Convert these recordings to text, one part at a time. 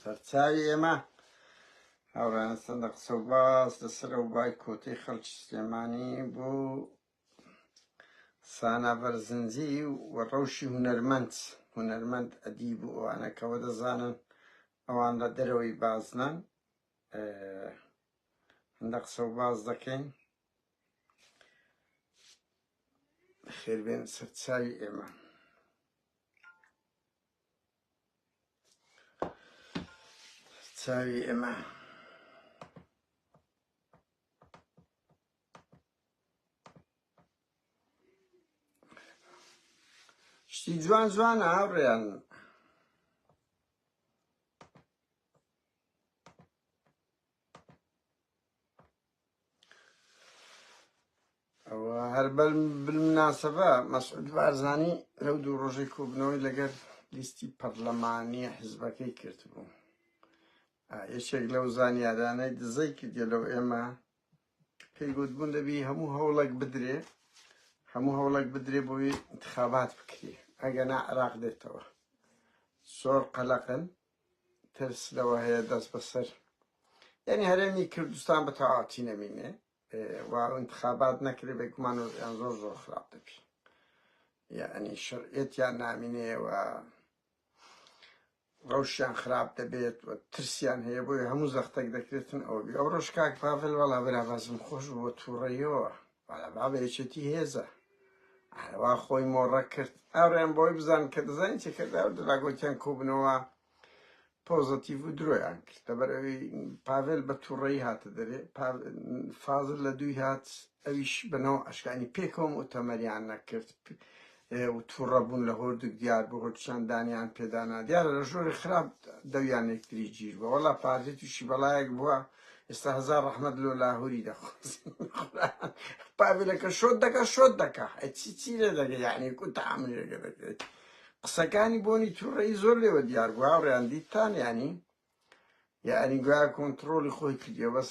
سەرچاوی ئێمە هاوڕانە سەندە قسە و باس لەسەر ئەو بای کۆتەی خەڵکی سلێمانی بۆ سانا بەرزنجی و ڕەوشی هونەرمەند هونەرمەند ئەدیب و ئەوانەکەەوە دەزانن ئەوان لە دەرەوەی بازنان هەندە قسە و باز دەکەین خێربێن سەرچاوی ئێمە چاوی ئێمە شتی جوان جوانە هاوڕێیان هەر بالمناسبە مەسعود بارزانی لەو دوو ڕۆژەی کۆبنەوەی لەگەر لیستی پەرلەمانی حزبەکەی کردبوو یەکێک لەو زانیارانەی دزەی کردێ لەو ئێمە پێی گوتبوون دەبی هەموو هەوڵک بدرێ هەموو هەوڵک بدرێ بۆی انتخابات بکرێ ئەگەنا عراق دێتەوە زۆر قەلەقن ترس لەوە هەیە دەست بەسەر یعنی هەرێمی کوردستان بە تەواتی نەمینێ و انتخابات نەکرێ بێگومان وەزیان زۆر زۆر خراپ دەبی یعنی شەرعەتیان نامینێ و ڕەوشیان خراپ دەبێت و ترسیان هەیە بۆی هەموو زەختێک دەکرێتن ئەو بێ ئەو ڕۆژ کاک پاڤل وەڵا بەرابازم خۆش بووە تووڕەیەوە وەڵا بابە یەکێتی هێزە. ئارەوا خۆی مۆڕە کرد ئاوریان بۆی بزان کە دەزانی چی کرد ئەو دەلا گۆتیان کۆبنەوە پۆزەتیڤ و درۆیان کرد لەبەر ئەوی پاڤێل بە تووڕەی هاتە دەرێ فازل لە دووی هات ئەویش بەنەوە ئەشکانی پێکەوەم و تەمەریان نەکرد هەیە و توڕە بوون لە هۆردک دیار بۆ هۆرچان دانیان پێدانا دیارە لە ژۆری خراپ دەویان یەکتری گیر بە وەڵا پارتی تووشی بەڵایەک بووە ئێستا هزار ڕەحمەت لۆ لاهوری دەخواز پاڤلەکە شۆت دەکە شۆت دەکە چی چی لێ دەگە یعنی کو تەعاملی لەگە دەکرێت قسەکانی بۆنی تووڕەی زۆر لێوە دیار بوو هاوڕیان دیتان ینی یعنی گویا کۆنتترۆلی خۆی کردیە بەس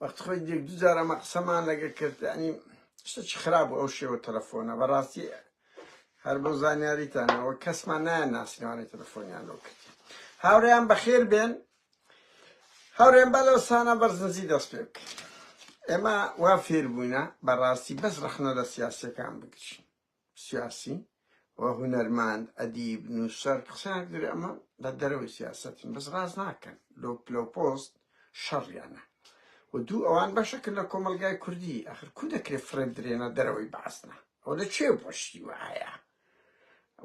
وەخت خۆی دێک دوو جار ئەمە قسەمان لەگە کرد ینی شتێکی خراپ بوو ئەو شێوە تەلەفۆنە بەڕاستی هەر بۆ زانیاریتانەوە کەسمان نایە ناسیوانەی تەلەفۆنیان لەو کرد هاوریان بەخێر بێن هاورێن بە لەو سانە بەرزنجی دەست پێ بکەین ئێمە وا فێر بووینە بەڕاستی بەس ڕەخنە لە سیاسەکان بگرین سیاسی و هونەرمەند، ئەدیب، نووسەر، قسەیان دەرێ ئەمە لە دەرەوەی سیاسەتن بەس ڕاست ناکەن لۆ پلەو پۆست شەڕیانە و دوو ئەوان بەشەکن لە کۆمەڵگای کوردی ئەخر کو دەکرێ فڕێ بدرێنە دەرەوەی بەعسنا ئەوە لە کوێ بۆشتی وایە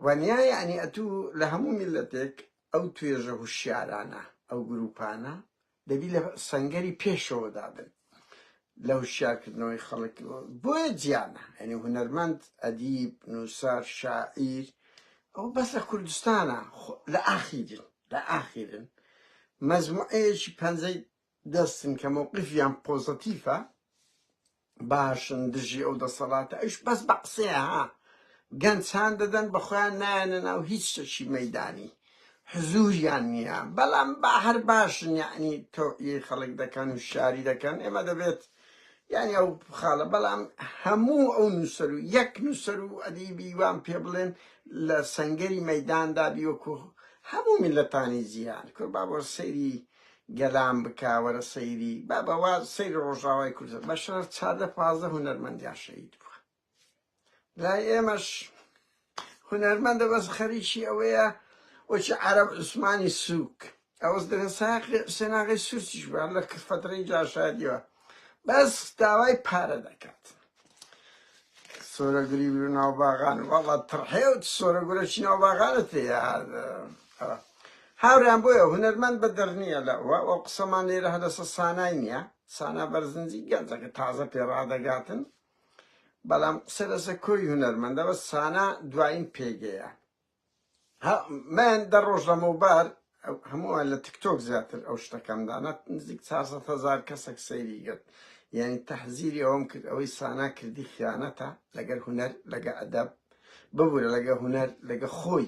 وەنیا یانی ئەتوو لە هەموو میلەتێک ئەو توێژە هوشیارانە ئەو گروپانە دەبی لە سەنگەری پێشەوەدا بن لە هوشیارکردنەوەی خەڵک بۆیە جیانە ئەنی هونەرمەند ئەدیب نووسەر شاعیر ئەو بەس لە کوردستانە لە ئاخیرن لە ئاخیرن مەزموعەیەکی پەنجەی دەستن کە مووقفیان پۆزەتیفە باشن دژی ئەو دەسەڵاتە ئەوش بەس بە قسەیە ها گەنج هان دەدەن بە خۆیان نایەنە ناو هیچ شتێکی مەیدانی حزوریان نییە بەڵام با هەر باشن یعنی تۆعی خەڵک دەکەن و شاری دەکەن ئێمە دەبێت یعنی ئەو خاڵە بەڵام هەموو ئەو نووسەر و یەک نووسەر و ئەدیبی وان پێ بڵێن لە سنگەری مەداندا بیوەکو هەموو میلەتانی جیهان کوربا بۆ سەیری گەلان بکە وەرە سەیری بابە وا سەیری ڕۆژاوای کوردە بە شەرەف چاردە پازدە هونەرمەندیان شەهید بووە لای ئێمەش هونەرمەندە بەس خەریکی ئەوەیە وەچی عرب عوسمانی سوک ئەوەز دەێن ساقی سێناغی سوورچیش بە لە کفەترین جاشادیوە بەس داوای پارە دەکات سۆرە گری بیر ناو باغان واڵا تڕحێوت سۆرە گورە چی ناو باغانە تێ هاوریان بۆیە هونەرمەند بە دەرنیە لە ئەو قسەمان لێرە هەدەسە سانای نییە سانا بەرزنجی گەنجەکە تازە پێ ڕادەگاتن بەڵام قسە لەسە کۆی هونەرمەندەوە سانا دوایین پێگەیە ها من دە ڕۆژ لەمەوبەر هەمووە لە تکتۆک زیاتر ئەو شتەکەم دانا نزیک 400 هزار کەسێک سەیری گرت یعنی تەحزیری ئەوم کرد ئەوەی سانا کردی خیانەتە لەگەر هوەر لەگە ئەدەب ببوورە لەگە هوەر لەگە خۆی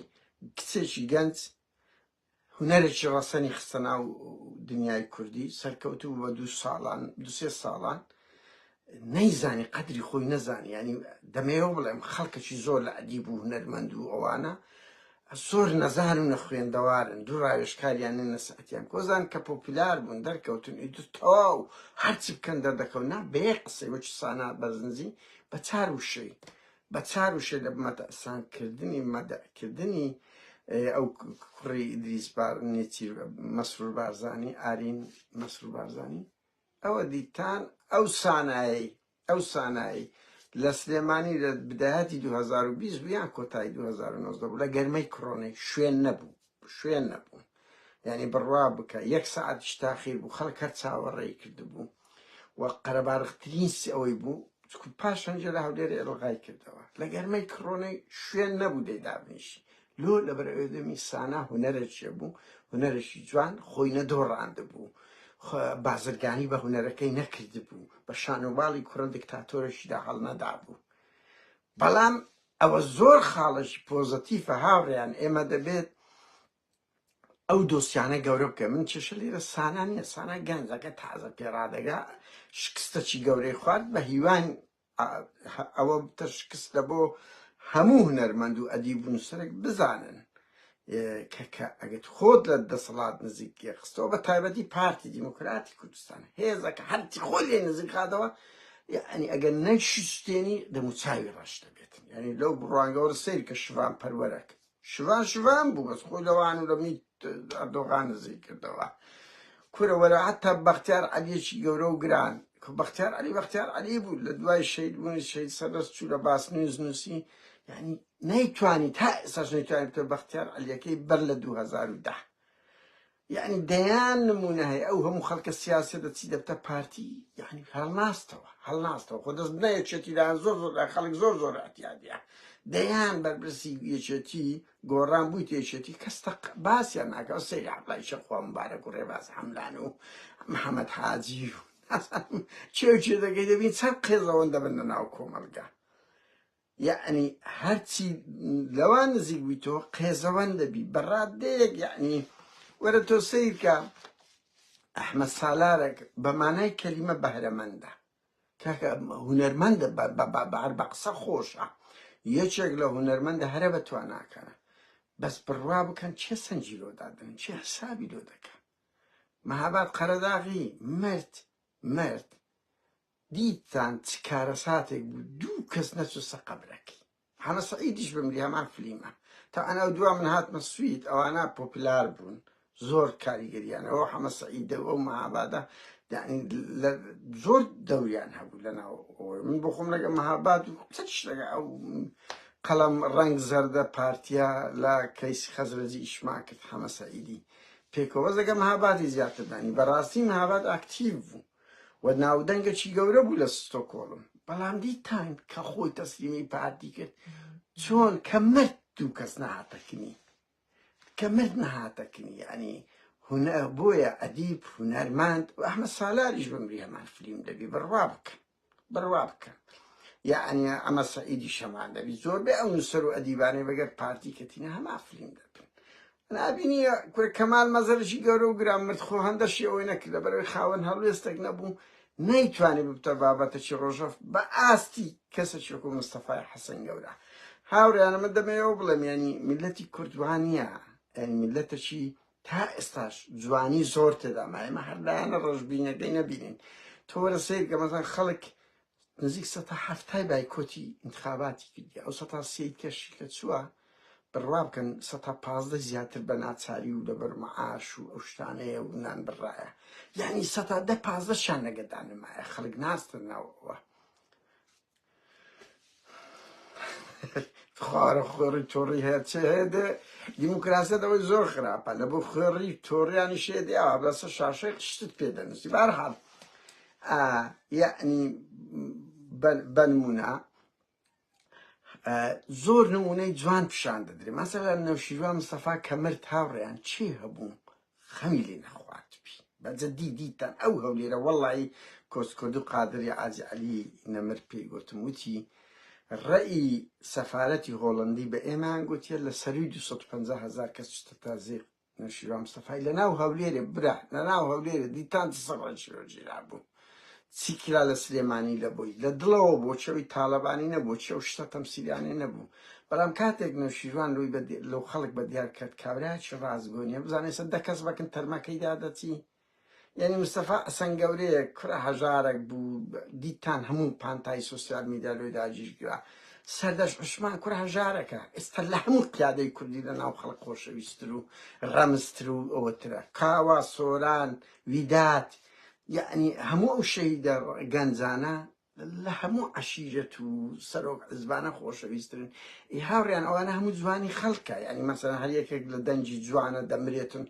کچێکی گەنج هونەرێکی ڕەسەنی خستە ناو دنیای کوردی سەرکەوتوو بوو بە دوو ساڵان دو سێ ساڵان نەیزانی قەدری خۆی نەزانی ینی دەمەوە بڵێم خەڵکەکی زۆر لە ئەدی بوو هونەرمەند و ئەوانە سۆر نەزان و نەخوێندەوارن دوو ڕاوێشکاریان نەسەتیان کۆزان کە پۆپیلار بوون دەرکەوتن ئیتر تەواو هەرچی بکەن دەردەکەون نا بەیە قسەی وەکی سانا بەرزنجی بە چار وشەی بە چار وشە لە مەتەئسان کردنی مەدئ کردنی ئەو کوڕی ئیدریس بار نێچیر مەسرور بارزانی ئارین مەسرور بارزانی ئەوە دیتان ئەو سانایی ئەو سانایی لە سلێمانی لە بداهاتی 2020 بوویان کۆتایی 2009 بوو لە گەرمەی کڕۆنەی شوێن نەبوو شوێن نەبوو یعنی بڕوا بکە یەک سعاتیش تاخیر بوو خەڵک هەر چاوەڕێی کردبوو و قەرەباڕخترین سی ئەوەی بوو پاشان جێ لە هەولێری ئەلغای کردەوە لە گەرمەی کڕۆنەی شوێن نەبوو دەی دابنیشی لۆ لە بەرەوێدەمی سانا هوەرەێ بوو هوەرەشی جوان خۆی نەدۆڕاند بوو بازرگانی بە هوەرەکەی نەکرد بوو بە شانۆباڵی کوڕە دکتاتۆرەشیدا هەڵنەدا بوو بەڵام ئەوە زۆر خاڵێکی پۆزەتیفە هاوڕێیان ئێمە دەبێت ئەو دۆسیانە گەورە بکەن من کێشە لێرە سانا نیە سانا گەنجەکە تازە پێڕادەگا شکستەکی گەورەی خوارد بە هیوان ئەوە تە شکستە بۆ هەموو هونەرمەند و ئەدیب و نووسەرێک بزانن کەکە ئەگەت خۆت لە دەسەڵات نزیکیە خستەوە بە تایبەتی پارتی دیموکراتی کوردستان هێزەکە هەرچی خۆی لێ نزیک خاتەوە یعنی ئەگەر نەشتێنی دەموچاوی ڕەش دەبێت یعنی لەو بڕوانگەوەرە سیر کە شوان پەروەرەک شوان شوان بوو بەس خۆی لەوان و لەمی ئەردۆغان نزی کردەوە کورە وەرە هەتا بەختیار عەلیەکی گەورە و گران کە بەختیار علی بەختیار علی بوو لە دوای شەید بوونی شەید سەدەست چوو لە باس نوێز نووسی یعنی نەیتوانی تا ئێساش نەیتوانی بتە بەختیار عەلیەکەی بەر لە 2010 یعنی دەیان نمونە هەیە ئەو هەموو خەڵکە سیاسە دەچی دەبتە پارتی یعنی هەڵناستەوە هەڵناستەوە خۆ دەست بنە یەکێتیدان زۆر زۆر خەڵک زۆر زۆر احتیادە دەیان بەرپرسی یەکێتی گۆڕان بووی تێچێتی کەستە باسیان ناکە ئەو سەیری عبلای شەخوا مبارەک و ڕێباز حەملان و محەممەد حاجی و چێوچێ دەگەی دەبین چەند قێزەوەن دەبن لە ناو کۆمەلگا یەعنی هەرچی لەوان نزیک بووی تۆ قێزەوەن دەبی بە ڕاددەیەک یەعنی وەرە تۆ سیرکە ئەحمە سالارێک بە مانای کەلیمە بەهرەمەندە کاکە هوەرمەندە بەبار بە قسە خۆشە یەکێک لە هوەرمەندە هەرە بە تواناکەە بەس بڕوا بکەن چێ سنجی لۆدادن چێ حسابی لۆ دەکەن مەهاباد قەرەداغی مرد مرد دیتتان چ کارەساتێک بوو دوو کەس نەچووسە قەبرەکەی حەمە سەعیدیش بمری هەمان فلیمە تا ئەناو دوا من هاتمە سوید ئەوانە پۆپلار بوون زۆر کاریگەریانە ئەو حەمە سەعیدە ئەو مەهابادە زۆر دەوریان هەبوو لە ناو من بۆ خۆم لەگە مەهاباد و قسە شتەکە ئەو قەڵەم ڕنگ زەردە پارتیا لە کەیسی خەزرەجی ئیشمان کرد حەمە سەعیدی پێکەوە زەگە مەهابادی زیاتر دانی بەڕاستی مەهاباد ئاکتیو بوو و ناودەنگەکی گەورە بوو لە ستۆکۆڵم بەڵام دیتان کە خۆی تەسلیمی پارتی کرد چۆن کە مرد دوو کەس نەهاتەکنی کە مرد نەهاتەکنی ینی هونە بۆیە ئەدیب هونەرماند ئەحمە سالاریش بمری هەمان فلیم دەبی بڕوا بکەن بڕوا بکەن یعنی ئەمە سعیدی شەمان دەبی زۆربەی ئەو نووسەر و ئەدیبانەی بەگەر پارتی کەتینە هەما فلیم دەبن نابینی کورە کەمال مەزەرشی گەورە و گران مرد خۆ هەندە شێوەی نەکرد لەبەرەوەی خاوەن هەڵوێستێک نەبوو نەیتوانی ببتە بابەتەکی ڕۆژەف بە ئاستی کەسێکی وەکو مستەفای حەسەن گەورە هاوڕیانە من دەمەوێەوە بڵێم ینی میلەتی کوردوانە ینی میلەتەکی تا ئێستاش جوانی زۆر تێدا مایمە هەردایانە ڕژبینەکەی نەبینین تۆرە سیر کە مەسەن خەڵک نزیک سەتا حەفتای بایکۆتی ئینتخاباتی کردیە ئەو سەتا سێی کەشی کە چووە بڕوا بکەن سەتا پازدەی زیاتر بە ناچاری و لەبەر معاش و ئەو شتانەیە و نان بڕایە یعنی سەتا دە پازدەشیان لەگەدا نمایە خەڵک ناستن ناوەوە خوارە خوێڕی تۆڕی هەیە چێ هەیە دێ دیموکراسە دەوەی زۆر خراپە لە بۆ خوێڕی تۆڕیانی شێ دێ ئەوە بەسە شاشەی شتت پێ دەنووسی بارحاڵ ئا یەعنی بەنمونە زۆر نمونەی جوان پیشان دەدرێ مەسەلا نەوشیروان مستەفا کە مرد هاوڕێیان چی هەبوو خەمی لێ نەخوارد بی بەجە دی دیتان ئەو هەولێرە وەڵی کۆسکرد و قادری ئازی علی نەمر پێی گوتم وتی ڕێی سەفاەتی هۆڵندی بە ئێمەیان گوتیە لە سەروی 250 هزار کەس چتە تازێ نەوشیروان مستەفای لەناو هەولێرێ برا لەناو هەولێرێ دیتان چ سەڕەنشی بۆ گیرابوو چی کرا لە سلێمانی لە بۆی لە دڵەوە بۆ چەوی تاڵەبانی نەبوو چێ و شتە تەمسیلانێ نەبوو بەڵام کاتێک نەوشیروان لۆی لەو خەڵک بە دیار کرد کابراکی ڕاستگۆنیە بزانێ سە دە کەس بەکن تەرمەکەی دادەچی یانی مستەفا ئەسەن گەورەیە کورە هەژارەک بوو دیتان هەموو پانتایی سۆسیال میدیا لۆی داجیش گرا سەردەش عوسمان کورە هەژارەکە ئێستا لە هەموو قیادەی کوردی لە ناو خەڵک خۆشەویستر و ڕەمزتر و ئەوەترە کاوا سۆران ویدات یانی هەموو ئەو شەهیدە گەنجانە لە هەموو عەشیرەت و سەرۆک عزبانە خۆشەویسترن ئی هاوریان ئەوانە هەموو جوانی خەلکە یانی مەسەلەن هەر یەکێک لە دەنگی جوانە دەمرێتن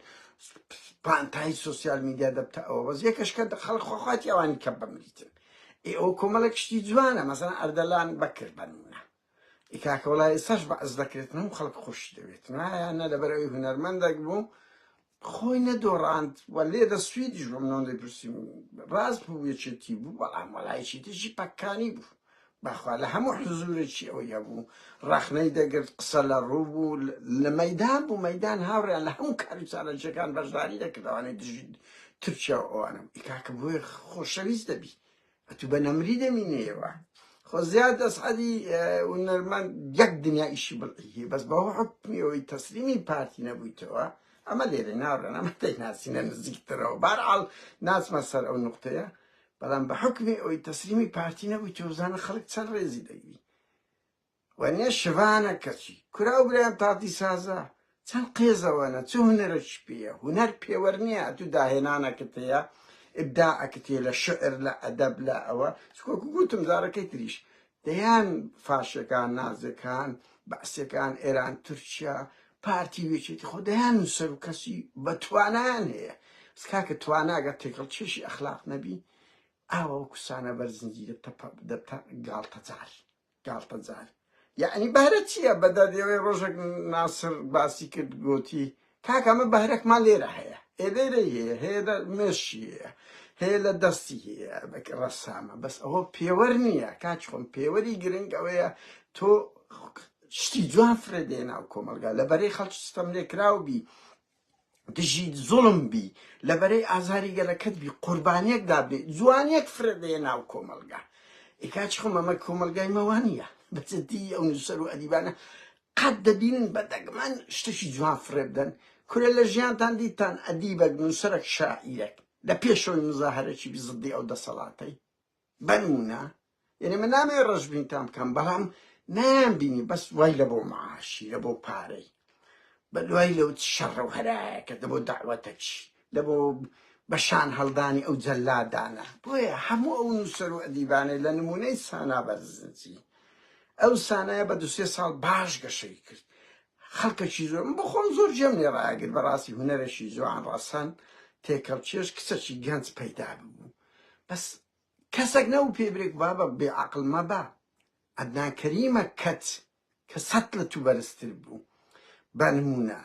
پانتایی سوسیال میدیا دەبتە ئەوە بەس یەکەش کە خەلک خۆخواتی ئەوانی کە بمریتن ئی ئەو کۆمەلە کشتی جوانە مەسەلەن ئەردەلان بەکر بەنمونە ئی کاکە وەڵا ئێستاش بەعس دەکرێتن و خەڵک خۆشی دەوێتن ئایا نە لەبەر ئەوی هونەرمەندەک بوو خۆی نەدۆڕاند و لێ دە سویدیش بە منۆن لێ پرسیم ڕاست بوو یەکێتی بوو بەڵام وەڵایکی تیژی پەککانی بوو بەخوا لە هەموو حزورێکی ئەوی هەبوو ڕەخنەی دەگرت قسە لە ڕوو بوو لە مەدان بوو مەدان هاوڕیان لە هەموو کاری چالەنجەکان بەشداری دەکردوانەی دژی ترکیا و ئەوانم ئیکاکە بۆیە خۆشەویست دەبی ئەتو بە نەمری دەمینێەوە خۆ زیاد دەسعەدی ونەرمان یەک دنیا ئیشی بڵی بەس بە حکمیەوەی تەسلیمی پارتی نەبوویتەوە ئەمە لێرە ناڕێن ئەمە تێک ناسینە نزیکترەوە بارعاڵ ناچمە سەر ئەو نقطەیە بەڵام بە حکمی ئەوی تەسلیمی پارتی نەبوویتەوە زانە خەڵک چەند ڕێزی دەگری وەنیە شڤانە کەچی کورە ئەو برایان تاتی سازە چەن قێزە وەنە چ هونەرەکی پێیە هونەر پێوەر نیە ئەتوو داهێنانەکت هەیە ئبداعەکت هەیە لە شعر لە ئەدەب لە ئەوە چ وەکو گووتم جارەکەی تریش دەیان فاشەکان نازەکان بەعسەکان ئێران تورکیا پارتی وێچێتی خۆ دەیان نووسەر و کەسی بە توانایان هەیە بس کاکە تواناگە تێکەڵ چێشی ئەخلاق نەبی ئاوە وەکو سانە بەر زنجیرە تەپە دەتە گاڵتەجار گاڵتەجار یەعنی بەهرەت چیە بەدادەوەی ڕۆژێک ناسر باسی کرد گۆتی کاک ئەمە بەهرەکمان لێرە هەیە ئێ لێرەی هەیە هەیە لە مێشی هەیە هەیە لە دەستی هەیە ڕەسامە بەس ئەوە پێوەر نییە کاچ خۆم پێوەری گرنگ ئەوەیە تۆ شتی جوان فرێدێ ناو کۆمەلگا لە بەرەی خەڵکی ستەم لێکراو بی دژی زوڵم بی لە بەرەی ئازاری گەلەکەت بی قوربانیەک دابێ جوانیەک فرە دەیە ناو کۆمەلگا ئی کاچ خۆ مەمە کۆمەلگای مەوانیە بەجدی ئەو نووسەر و ئەدیبانە قەت دەبینن بە دەگمەن شتێکی جوان فرە بدەن کورە لە ژیانتان دیتان ئەدیبەک نووسەرەک شاعیرەک لە پێشەوەی مزاهرەکی بی زدی ئەو دەسەڵاتەی بەنمونە یعنی من نامەوێت ڕەشبینتان بکەم بەڵام نایان بینی بەس وای لە بۆ معاشی لە بۆ پارەی بە دوای لەو شەڕە و هەرایەکە لە بۆ داوەتەکی لە بۆ بەشان هەڵدانی ئەو جەلادانە بۆیە هەموو ئەو نووسەر و ئەدیبانەی لە نمونەی سانا بەرزنجی ئەو سانایە بە دوسێ ساڵ باش گەشەی کرد خەڵکەکی زۆر بخۆم زۆر جێم لێ ڕاگر بەڕاستی هوەرەشی زۆان ڕەسەن تێکەڵ چێش کچەکی گەنج پەیدا ببوو بەس کەسەک نەبوو پێی برێ بابە بێ عەقڵ مەبە عەدنان کەریمە کەت کە سەت لە تو بەرزتر بوو بە نموونە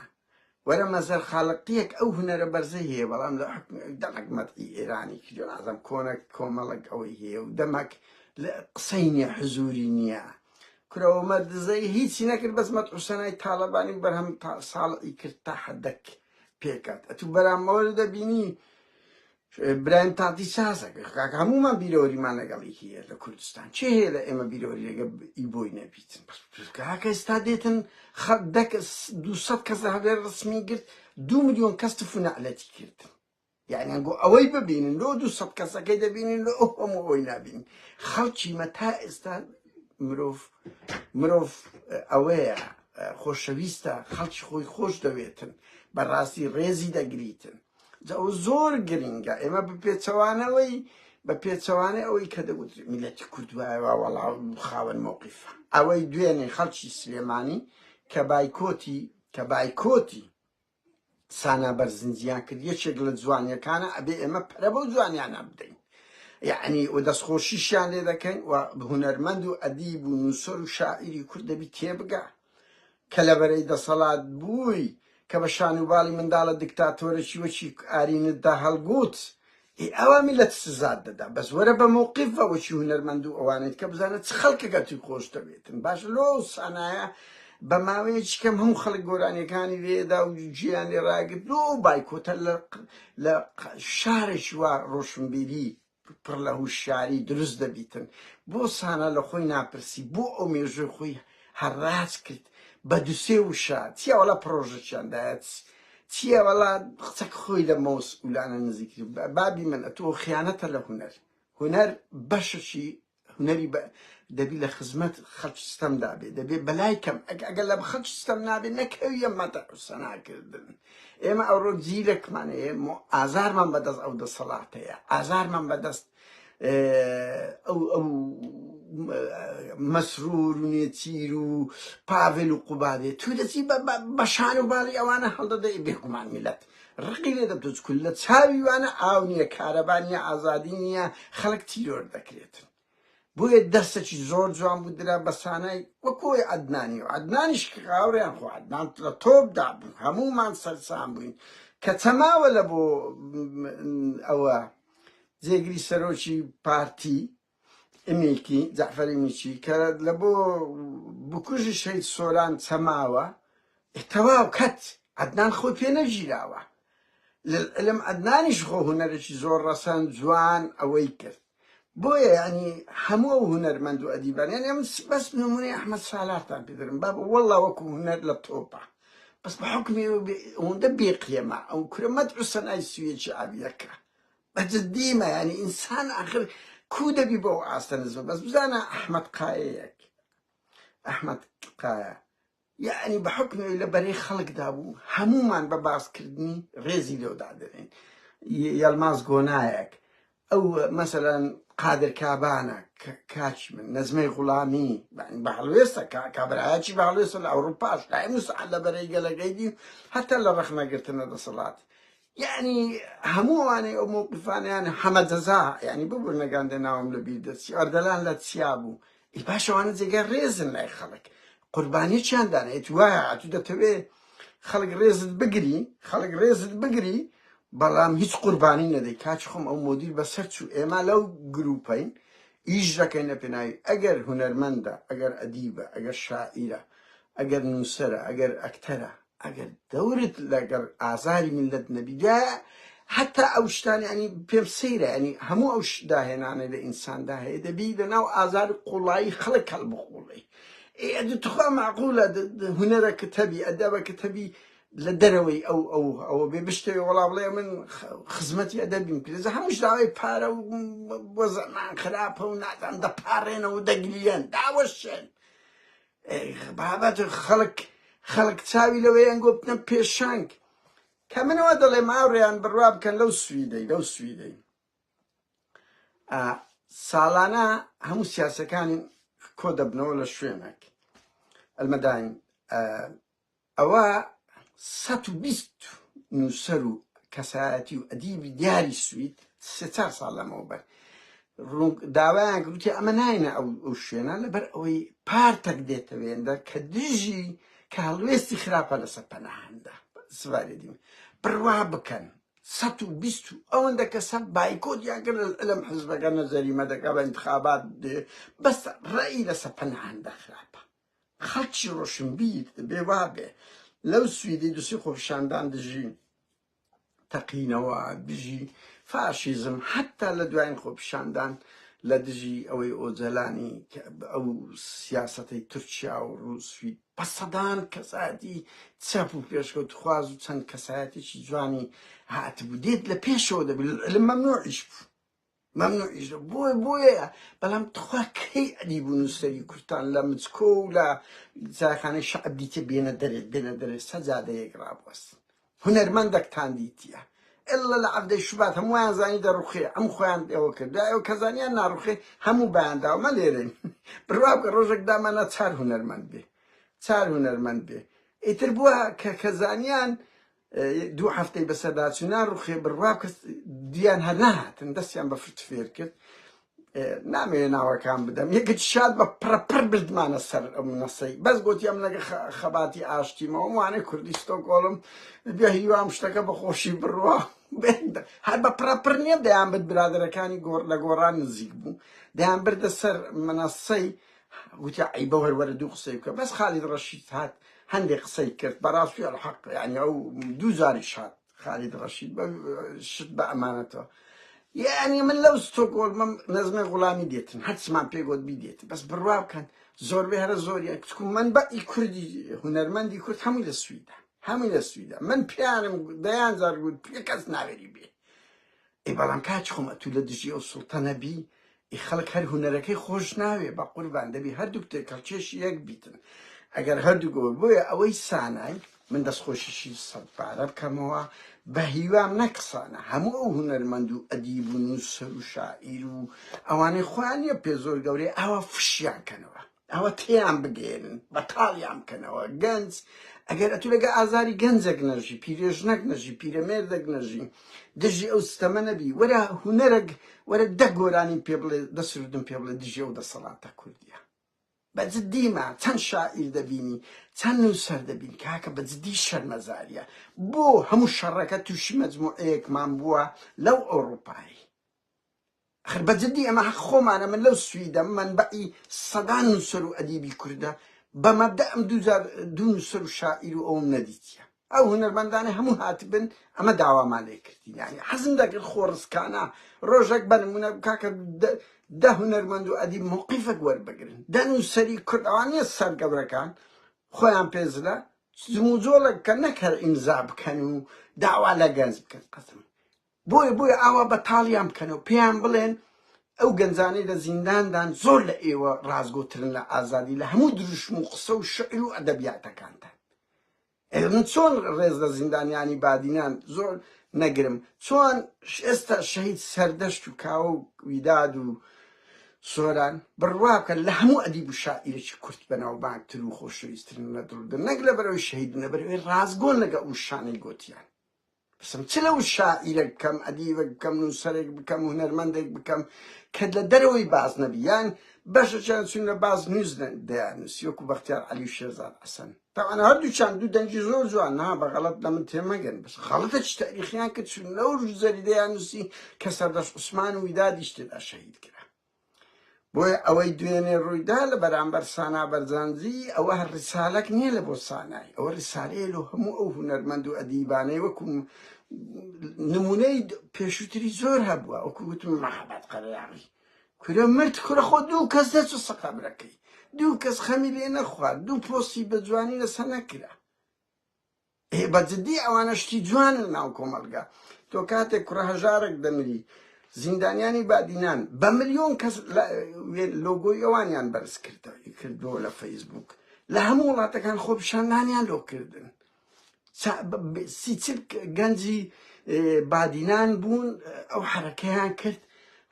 وەرە مەزەر خالقیەک ئەو هونەرە بەرزەی هەیە بەڵام لە حکم دەمەک مەدحی ئێرانی کردو عەزەم کۆنە کۆمەڵک ئەوەی هەیە و دەمەک لە قسەی نییە حزوری نییە کورەوە مە دزەی هیچی نەکرد بەس مەد حوسەنای تاالبانی و بەرهەم ساڵی کرد تا حدەک پێکات ئەتو بەرامەوە دەبینی برایم تادی سازە گە کاک هەمومان بیرەوەریمان لەگەڵی هەیە لە کوردستان چێ هەیە لە ئێمە بیرەوەری لەگە ئی بۆی نەبیتن کاکە ئێستا دێتن خە دەک دو سەد کەس لە هەولێر ڕسمی گرت دو ملیۆن کەس تف و نەعلەتی کردن یعنی گۆ ئەوەی ببینن لۆ دو سەد کەسەکەی دەبینین لۆ ئەو هەموو ئەوەی نابین خەڵکی مە تا ئێستا مرۆڤ مرۆڤ ئەوەیە خۆشەویستە خەڵکی خۆی خۆش دەوێتن بەڕاستی ڕێزی دەگریتن جا ئەوە زۆر گرنگە ئێمە بە پێچەوانەوەی بە پێچەوانەی ئەوەی کە دەگوت میلەتی کورد وایەوە وەڵا خاوەن مۆقیفە ئەوەی دوێنێ خەڵکی سلێمانی کە بایکۆتی کە بایکۆتی سانا بەرزنجیان کرد یەکێک لە جوانیەکانە ئەبێ ئێمە پرە بەو جوانیانە بدەین یعنی و دەستخۆشیشیان لێ دەکەین و هوەرمەند و ئەدیب و نووسەر و شاعیری کورد دەبی تێبگە کە لە بەرەی دەسەڵات بووی کە بە شانوباڵی منداڵە دکتاتۆرەکی وەکی ئارینتدا هەڵگووت ئێ ئاوا میلەت سزات دەدا بەس وەرە بە مەوقیف بە وەکی هونەرمەند و ئەوانەی کە بزانە چ خەڵکەکە توی خۆش دەوێتن باشە لۆ ئەو سانایە بە ماوەیەکی کەم هەموو خەڵک گۆرانیەکانی لێدا و جیان لێ ڕاگرت لۆ ئەو بایکۆتە لە شارێکی وا ڕۆشنبیری پڕ لە هوشیاری دروست دەبیتن بۆ سانا لە خۆی ناپرسی بۆ ئەو مێژووی خۆی هەڕاج کرد بە دو سێ وشە چیە وەڵا پڕۆژەکیان دایە چیە وەڵا قسەک خۆی لە مەوس ئولانە نزیکتر بابی من ئەتوو خیانەتە لە هونەر هونەر بەشەکی هونەری بە دەبی لە خزمەت خەلکی ستەم دابێ دەبێ بەلای کەم ئەگەر لە خەلکی ستەم نابێ نەکەویە مەتە سەناکردن ئێمە ئەوڕۆ زیرەکمان هەیە مۆ ئازارمان بەدەست ئەو دەسەڵات هەیە ئازارمان بەدەست ئەو ئەو مەسرور و نێچیر و پاڤل و قوبادێ تو دەچی بە شان و باڵی ئەوانە هەڵدەدەی بێگومان میلەت ڕقی لێ دەبتە چکول لە چاوی وانە ئاو نییە کارەبا نییە ئازادی نییە خەڵک تیرۆر دەکرێت بۆیە دەرسەکی زۆر جوان بوو درا بە سانای وەکۆی عدنانی و عدنانیش کاوریان خۆ عدنان لە تۆپدا بوو هەمومان سەرسان بووین کە چەماوە لە بۆ ئەوە جێگری سەرۆکی پارتی ی میلکی، جەعفەری میچی، کە لە بۆ بکوژی شەهید سۆران چەماوە، ئێ تەواو کەت، عەدنان خۆی پێ نەگیراوە، للعلم عەدنانیش خۆ هونەرێکی زۆر ڕەسەن، جوان، ئەوەی کرد. بۆیە یانی هەموو ئەو هونەرمەند و ئەدیبان، یانی ئەمن بەس نموونەی ئەحمەد سالارتان پێ دەرم بابە وەڵڵا وەکوو هونەر لە تۆپە، بەس بە حوکمی ئەوەندە بێقیمە، ئەو کورە مەدحوسەنای سویەکی عەویەکە، بە جدی مە یانی ئینسان ئاخر کو دەبی بۆ ئەو ئاستە نزمە بەس بزانە ئەحمەد قایەیەک ئەحمەد قایە یعنی بە حکمەوەی لە بەرەی خەڵکدا بوو هەمومان بە باسکردنی ڕێزی لێو دادەنێن ی- یەڵماز گۆنایەک ئەو مەسەلەن قادر کابانە ک- کاچی من نەزمەی غوڵامی یعنی بە هەڵوێستە کا- کابرایەکی بە هەڵوێستە لە ئەوروپاش لای موسعە لە بەرەی گەلەکەی دی هەتا لە ڕەخنەگرتنە دەسەڵات یانی هەموو ئەوانەی ئەو موقفانیان حەمە جەزا یانی ببوور نەگەندە ناوم لە بیر دەچی ئەردەلان لە چیا بوو ئی باشەوانە جێگە ڕێزن لای خەڵک قوربانی چیان دانێت وایە ئەتوو دەتەوێ خەڵک ڕێزت بگری خەڵک ڕێزت بگری بەڵام هیچ قوربانی نەدەی کاچ خۆم ئەو مدیر بەسەر چوو ئێمە لەو گروپین ئیش دەکەین لە پێناوی ئەگەر هونەرمەندە ئەگەر ئەدیبە ئەگەر شاعیرە ئەگەر نووسرە ئەگەر ئەکتەرە ئەگەر دەورت لەگەڵ ئازاری میللەت نەبیدایە هەتا ئەو شتانە یانی پێم سەیرە ینی هەموو ئەو داهێنانە لە ئینساندا هەیە دەبی لەناو ئازار قوڵایی خەڵک هەڵبخوڵی ئەدی تخوا معقولە هونەرەکە تەبی ئەدەبەکە تەبی لە دەرەوەی ئەو ئەو ئەوە بێ بشتەوە وەڵا بڵێ من خزمەتی ئەدەبیم کرێز هەمووش داوای پارە و بۆ زەمان خراپە و نازان دەپارێنەوە دەگریان داوەشێن بابەت خەڵک خەڵک چاوی لەوەیان گوتنە پێشنگ کە منەوە دەڵێ ماوڕێیان بڕوا بکەن لەو سویدەی لەو سویدەی ساڵانە هەموو سیاسەکانی کۆ دەبنەوە لە شوێنێک ئەلمەداین ئەوا سەد و بیست نووسەر و کەسایەتی و ئەدیبی دیاری سوید سێ چار ساڵ لەمەوبەر ڕوون داوایان کردوتێ ئەمە ناینە ئەو ئەو شوێنە لەبەر ئەوەی پارتەک دێتەوێندە کە دژی کە هەڵوێستی خراپە لەسەر پەناهەندە سواری دیم بڕوا بکەن سەد و بیست و ئەوەندە کە سەد بایکۆت یاگەر لەم حزبەکە نەزەریمە دەکا بە انتخابات دێ بەس ڕێی لەسە پەناهەندە خراپە خەڵکی ڕۆشنبیر دەبێ وابێ. لەو سویدەی دوسی خۆپیشاندان دژی تەقینەوە، دژی فاشیزم، حەتا لە دوایین خۆپیشاندان لە دژی ئەوەی ئۆجەلانی کە ئەو سیاسەتەی تورکیا و ڕووسوی بە سەدان کەسایەتی چەپ و پێشکەوتخواز و چەند کەسایەتێکی جوانی هاتبوو دێت لە پێشەوە دەبێت علم مەمنوعیش بوو. مەمنوع ئیش دە بۆ بۆیە بەڵام تخوا کەی ئەدی بوو نووسەری کوردتان لە مچکۆ و لە جاخانەی شعب دیتە بێنە دەرێت بێنە دەرێت سەجادەیەک ڕابوەست هونەرمەندەکتان دیتە ئللا لە عەبدەی شوبات هەمووان زانی دەڕوخێ ئەم خۆیان ئێوە کرد دا ئێوە کەزانیان ناڕوخێ هەموو بەیانداومە لێرەین بڕوا بکە ڕۆژێک دامانە چار هونەرمەند بێ چار هونەرمەند بێ ئیتر بووە کە کەزانیان دوو هەفتەی بەسەرداچوو ناڕوخێ بڕوا کەس دیان هەر نەهاتن دەستیان بە فرت فێر کرد نامەوێ ناوەکان بدەم یەکت شاد بە پڕپڕ بردمانە سەر ئەم نەسەی بەس گوتی ئەم لەگە خەباتی ئاشتیمەوە وانەی کوردیستۆ گۆڵم بێ هیوام شتەکە بە خۆشی بڕوا هەر بە پڕپڕ نییە دەیان بت برادەرەکانی گۆڕ لە گۆڕان نزیک بوو دەیان بردە سەر منەسەی گوتی عەیبە هەر وەرە دوو قسەی بکە بەس خالید ڕەشید هات هەندێک قسەی کرد بەڕاستی الحق یعنی ئەو دوو جاریش هات خالید ڕەشید بە شت بە ئەمانەتەوە یعنی من لەو ستۆکۆلمم نەزمە غوڵامی دێتن هەرچمان پێگوت بیدێت بەس بڕوا بکەن زۆربەی هەرە زۆریە کچکم من بە ئی کوردی هونەرمەندی کورد هەمووی لە سویدا هەمووی لە سویدا من پیانم دەیان زار گوت پێ کەس ناوێری بێ ئێ بەڵام کاچ خۆم ئەتوو لە دژی ئەو سوڵتە نەبی ئی خەڵک هەر هونەرەکەی خۆش ناوێ بە قوربان دەبی هەردووک تێکەڵکێشی یەک بیتن ئەگەر هەردوو گۆ بۆیە ئەوەی سانای من دەستخۆشیشی سەد پارە بکەمەوە بە هیوام نەکسانە هەموو ئەو هونەرمەند و ئەدیب و نووسەر و شاعیر و ئەوانەی خۆیان نیە پێ زۆر گەورەی ئاوا فشیان کەنەوە ئەوە تێیان بگەێنن بەتاڵیان بکەنەوە گەنج ئەگەر ئەتو لەگە ئازاری گەنجەک نەژی پیرێژنەک نەژی پیرەمێردەک نەژی دژی ئەو ستەمە نەبی وەرە هوەرەگ وەرە دە گۆرانی پێ بڵێ دەسردن پێ بڵێ دژێ و دەسەڵاتە کوردیە بەجددیمە چەند شاعیر دەبینی چەند نووسەر دەبین کاکە بەجددی شەرمەزاریە بۆ هەموو شەڕەکە تووشی مەجموعەیەکمان بووە لەو ئەوروپایی ئەخر بەجدی ئەمە هەق خۆمانە من لەو سویدەم مەنبەعی سەدان نوسەر و ئەدیبی کوردە بە مەبدە ئەم دوو جار دوو نوسەر و شاعیر و ئەوم نەدیتیە ئەو هونەرمەندانە هەموو هاتبن ئەمە داوامان لێ کردین یانی حەزم دەکرد خۆ ڕسکانە ڕۆژێک بە نمونە کاکە دە هونەرمەند و ئەدیب موقیفەک وەربگرن دە نوسەری کورد ئەوان نیە سەر گەورەکان خۆیان پێزلە جموجۆڵێک کە نەک هەر ئیمزا بکەن و داوا لە گەنج بکەن قەسم بۆیە بۆیە ئاوا بەتاڵیان بکەنە و پێیان بڵێن ئەو گەنجانەی لە زینداندان زۆر لە ئێوە ڕاستگۆترن لە ئازادی لە هەموو دروشم و قسە و شعر و ئەدەبیاتەکانتان ئێ من چۆن ڕێز لە زیندانیانی بادینان زۆر نەگرم چۆن ش- ئێستا شەهید سەردەشت و کاوە و ویداد و سۆران بڕوا بکەن لە هەموو ئەدیب و شاعیرێکی کورت بەناوبانگتر و خۆشەویسترن لە دڵدا نەک لە بەرەوەی شەهیدن لە بەرەوەی ڕاستگۆن لەگە ئەو شانەی گوتیان بپرسم چ لەو شاعیرەک بکەم، ئەدیبەک بکەم، نووسەرێک بکەم، هونەرمەندێک بکەم کە لە دەرەوەی باز نەبی یان بەشەچیان چون لە باز نووس دەیاننووسی وەکو بەختیار عەلی و شێرزاد حەسەن تاوانە هەردووچان دوو دەنگی زۆر جوان نا بە غەڵەت لە من تێمەگەن بەس غەڵەتە چ تاریخیان کرد چون لەو ژوزەری دەیاننووسی کە سەردەشت عوسمان و ویدادیش تێدا شەهید کرا بۆیە ئەوەی دوێنێ ڕوویدا لە بەرامبەر سانا بەرزانجی ئەوە هەر ڕیسالەک نییە لە بۆ سانای ئەوە ڕیسالەیە لۆ هەموو ئەو هونەرمەند و ئەدیبانەی وەکوم نمونەی پێشوتری زۆر هەبووە وەکو وتم مەحەبەت قەرەیاغی کورە مرد کورە خۆ دوو کەس دەچوو سەقەبرەکەی دوو کەس خەمی لێ نەخوارد دوو پۆستی بە جوانی لەسە نەکرا ئێ بە جدی ئەوانە شتی جوانن ناو کۆمەڵگا تۆ کاتێک کوڕە هەژارێک دەمری زیندانیانی بادینان بە ملیۆن کەس لۆگۆی ئەوانیان بەرز کردەوە کردووە لە فەیسبوک لە هەموو وڵاتەکان خۆ پیشاندانیان لۆ کردن سیچل گەنجی بادینان بوون ئەو حرەکەیان کرد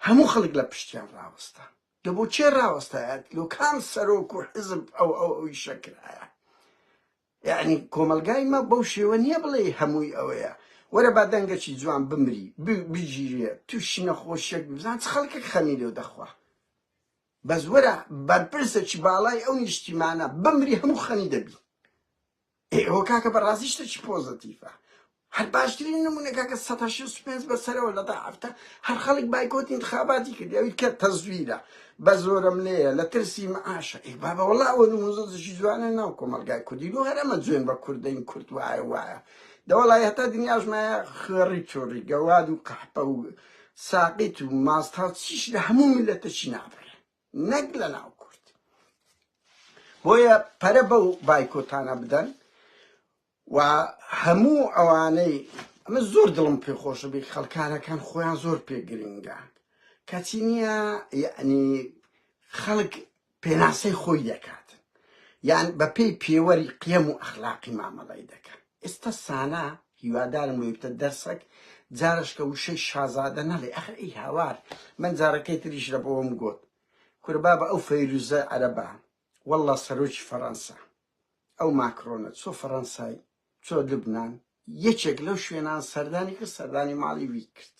هەموو خەڵک لە پشتیان ڕاوەستا دە بۆ چێ ڕاوەستایەت لۆ کام سەرۆک و حزب ئەو ئەو ئەوی شەکرایە یەعنی کۆمەڵگای مە بەو شێوە نییە بڵێی هەمووی ئەوەیە وەرە با دەنگەکی جوان بمری بگیرێ تووشی نەخۆشیەک بزان چ خەڵکێک خەمی لێو دەخوا بەس وەرە بەرپرسێکی باڵای ئەو نیشتیمانە بمری هەموو خەنی دەبی ئێوە کاکە بەڕازیشتەکی پۆزەتیفە هەر باشترین نمونە کاکە سەد و شەست و پێنج بە سەرەوە لە تا حەفتا هەر خەڵک بایکۆت انتخاباتی کرد ئەوی کە تەزویرە بە زۆرم لێیە لە ترسی معاشە ئەی بابە وەڵا ئەوە نموزەشی جوانە ناو کۆمەلگای کوردی و هەرەمە جوێن بە کوردین کورد وایە وایە دەوەڵای هەتا دنیاش مایە خوێڕی چۆڕی گەواد و قەحپە و ساقیت و ماستاو چیش لە هەموو میلەتەکی نابڕێ نەک لە ناو کورد بۆیە پەرە بەو بایکۆتانە بدەن و هەموو ئەوانەی ئەمە زۆر دڵم پێ خۆشە بی خەڵکارەکان خۆیان زۆر پێ گرنگە کەچی نییە یعنی خەڵک پێناسەی خۆی دەکات یان بەپێی پێوەری قیەم و ئەخلاقی مامەڵی دەکەن ئێستا سانا هیوادارم وێبتە دەرسەک جارشکە وشەی شازادە نەڵێ ئەخر ئەی هاوار من جارەکەی تریش لە بۆم گوت کوربا بە ئەو فەیروزە عەرەبە والله سەرۆکی فەڕەنسا ئەو ماکرۆنە چۆ فەرەنسای چۆ لبنان یەکێک لەو شوێنان سەردانی کرد سەردانی ماڵی وی کرد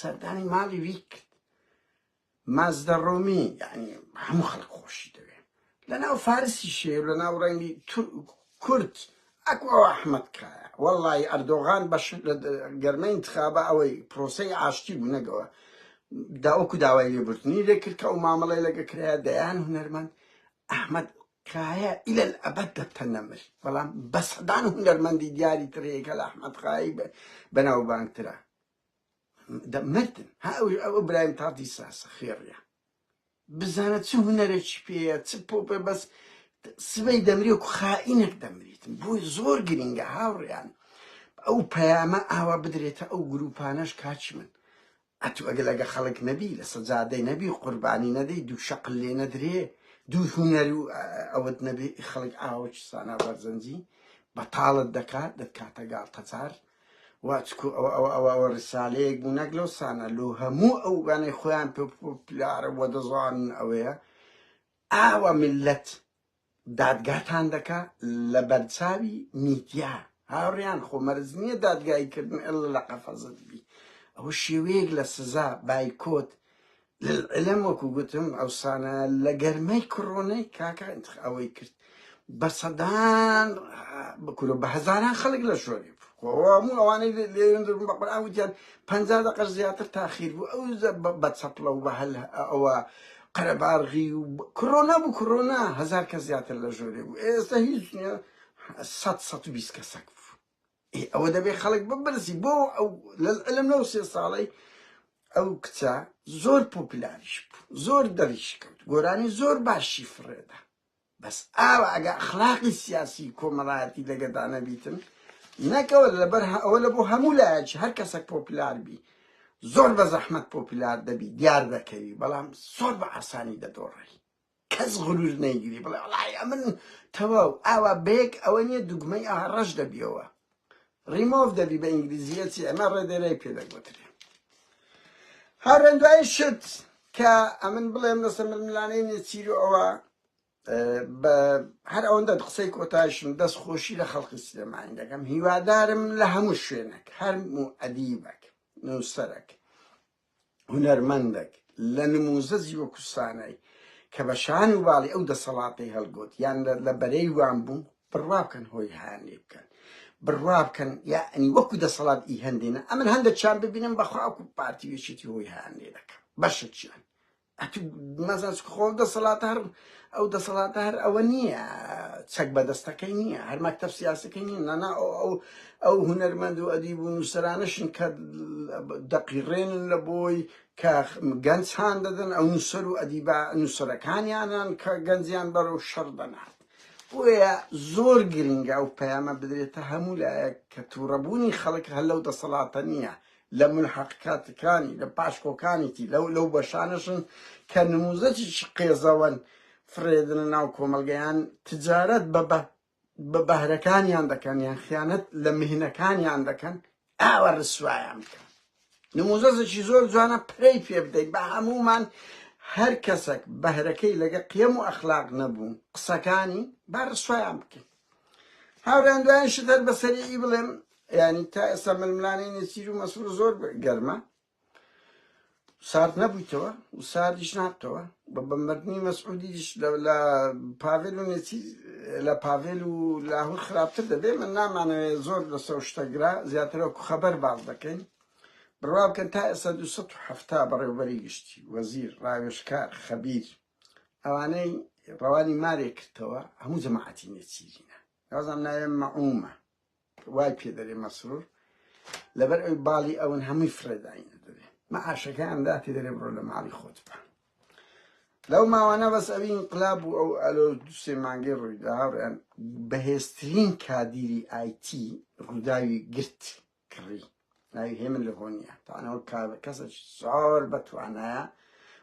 سەردانی ماڵی وی کرد مازدە ڕۆمی یعنی هەموو خەڵک خۆشی دەوێ لەناو فارسی شێ لەناو ڕەنگی کورد ئەکو ئەو ئەحمد کایە وەڵی ئەردۆغان بەش لە گەرمە انتخابە ئەوەی پرۆسەی ئاشتی بوو نەگەوە داوەکو داوای لێبوردنی لێکرد کە ئەو مامەڵی لەگە کرایە دەیان هونەرمەند ئەحمد کایە ئیلە ئەبەد دەبتە نەمر بەڵام بە سەدان هونەرمەندی دیاری تر هەیە کە لە ئەحمەد خایی بە بەناوبانگترە دە مردن ها ئەو ئەو برایم تاتی ساسە خێڕیە بزانە چ هونەرێکی پێیە چ پۆپێ بەس سبەی دەمری و خائینێک دەمریتن بۆی زۆر گرنگە هاوڕیان ئەو پەیامە ئاوا بدرێتە ئەو گروپانەش کاچ من ئەتو ئەگە لەگە خەڵک نەبی لە سەجادەی نەبی قوربانی نەدەی دوو شەقل لێ نەدرێ دوو هونەر و ئەوەت نەبێ ئی خەڵک ئاوە چسانا بەرزەنجی بەتاڵت دەکا دەتکاتە گاڵتەجار وا چکو ئەوە ئەوە ئەوە ئەوە ڕسالەیەک بوو نەک لەو سانە لۆ هەموو ئەو گانەی خۆیان پێ پلارە وە دەزانن ئەوەیە ئاوە ملت دادگاتان دەکا لەبەرچاوی میدیا هاوریان خۆ مەرج نیە دادگایی کردن اللە لە قەفەزت بی ئەوە شێوەیەک لە سزا بایکۆت لەلعلم وەکو گوتم ئەوسانە لە گەرمەی کڕۆنەی کاکە ئەوەی کرد بە سەدان بکورە بە هەزاران خەڵک لە شۆری هەموو ئەوانەی لێن درم بە قورئان وتیان پەنجا دەقەش زیاتر تاخیر بوو ئەو بە چەپڵە و بە هەل ئەوە قەرەباڵغی و کڕۆنا بوو کڕۆنا هەزار کەس زیاتر لە ژۆرێ بوو ئێستا هیچ نیە سەد سەد و بیست کەسەک بوو ئەوە دەبێ خەڵک ببرزی بۆ ئەو لە علم لەو سێ ساڵەی ئەو کچە زۆر پۆپلاریش بوو زۆر دەریش کرد گۆرانی زۆر باشی فڕێدا بەس ئاوا ئەگە ئەخلاقی سیاسی کۆمەڵایەتی لەگەدا نەبیتن نەکەوە لەبەر ئەوە لە بۆ هەموو لایەکی هەر کەسەک پۆپلار بی زۆر بە زەحمەت پۆپلار دەبی دیار دەکەوی بەڵام زۆر بە ئاسانی دەدۆڕی کەس غرور نەیگری بڵێ وڵای ئەمن تەواو ئاوا بەیەک ئەوە نیە دوگمەی ئاڕەش دەبیەوە ڕیمۆڤ دەبی بە ئینگلیزیە چی ئەمە ڕێدێرەی پێ دەگوترێ هەرێن دوای شت کە ئەمن بڵێم لەسە ململانەی نێچیرو ئەوە بە هەر ئەوەندە قسەی کۆتایشم دەست خۆشی لە خەڵقی سلێمانی دەکەم هیوادارم لە هەموو شوێنێک هەرموو ئەدیبەک نووسەرەک هونەرمەندەک لە نمووزەجی وەکو سانای کە بە شان و باڵی ئەو دەسەڵاتەی هەڵگۆت یان لە بەرەی وان بوو بڕوا بکەن هۆی هان لێ بکەن بڕوا بکەن یعنی وەکو دەسەڵات ئی هەندێنە ئەمن هەندە چیان ببینم بەخوا وەکو پارتی وێشێتی هۆی هان لێ دەکەم بەشت چیان ئەتو مەزان چکە خۆ دەسەڵات هەر ئەو دەسەڵاتە هەر ئەوە نییە چەک بەدەستەکەی نییە هەر مەکتەب سیاسەکەی نییە نانا ئەو ئەو ئەو هونەرمەند و ئەدیب و نووسرانەشن کە دەقیڕێنن لە بۆی کە گەنج هاان دەدەن ئەو نووسەر و ئەدیبا نووسەرەکانیانان کە گەنجیان بەرەو شەڕ دەنات بۆیە زۆر گرنگە ئەو پەیامە بدرێتە هەموو لایەک کە تووڕەبوونی خەڵک هەر لەو دەسەڵاتە نییە لە ملحقکاتکانی، لە پاشکۆکانیتی، لەو لەو بەشانەشن کە نموزەجێکی قێزەوەن، فڕێدەنە ناو کۆمەڵگە یان تجارەت بە بە بە بەهرەکانیان دەکەن یان خیانەت لە مهنەکانیان دەکەن، ئاوا ڕسوایان بکە. نموزەزەکی زۆر جوانە پرەی پێ بدەی بە هەموومان هەر کەسەک بەهرەکەی لەگە قیەم و ئەخلاق نەبوو قسەکانی با ڕسوایان بکەین. هاوریان دوایان شت هەر بە سەریعی بڵێم یعنی تا ئێستا ململانەی نێچیر و مەسور زۆر گەرمە سارد نەبوویتەوە و ساردیش نابتەوە بە بەمردنی مەسعودیش لە پاڤێل و نێچیر لە پاڤێل و لاهور خراپتر دەبێ من نامانەوێت زۆر لە سەو شتەگرا زیاترەوە خەبەر باز دەکەین بڕوا بکەن تا ئێستا 270 بەڕێوبەری گشتی وەزیر ڕاوێشکار خەبیر ئەوانەی ڕەوانی مارێ کردەوە هەموو جەماعەتی نێچیرینە نازام ناوێ مەعومە وای پێ دەرێ مەسرور لەبەر ئەوی باڵی ئەون هەمووی فرێداینە دەرێ مەعاشەکە ئەمدا پێ دەرێ بڕۆ لە ماڵی خۆت بە لەو ماوانە بەس ئەوی انقلاب و ئەو ئەلۆ دوسێ مانگەی ڕوویدا بەهێزترین کادیری ئایتی ڕووداوی گرت کڕی ناوی هێمن لە هۆنیە تانەوە کەسەکی زۆر بەتوانایە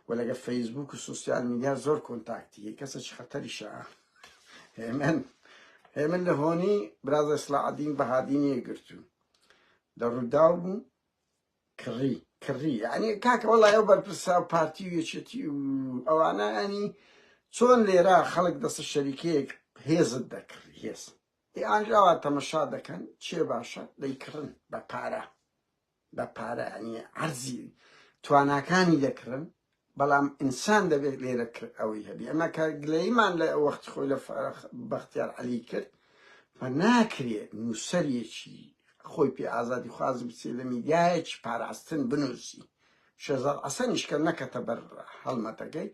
و لەگە فەیسبوک و سوسیال میدیا زۆر کۆنتاکتی کەسەکی خەتەریشە هێمن هێمن لە هۆنی برازە سلاعدین بەهادینی گرتو لە ڕووداو بوو کڕی کڕی یعنی کاکە وڵای ئەو بەرپرسا و پارتی و یەکێتی و ئەوانە ئەنی چۆن لێرە خەڵک دەستە شەریکەیەک هێزت دەکڕی هێز هی ئاگرەوە تەمەشا دەکەن چێ باشە دەیکڕن بە پارە بە پارە ئەنی عەرزی تواناکانی دەکڕن بەڵام ئینسان دەبێت لێرە کرد ئەوەی هەبی ئەمە کە گلەیمان لە وەخت خۆی لە بەختیار عەلی کرد بە ناکرێت نووسەرێکی خۆی پێ ئازادی خوازی بچێت لە میدیایەکی پاراستن بنووسی شێزار عەسەنیش کە نەکەتە بەر هەڵمەتەکەی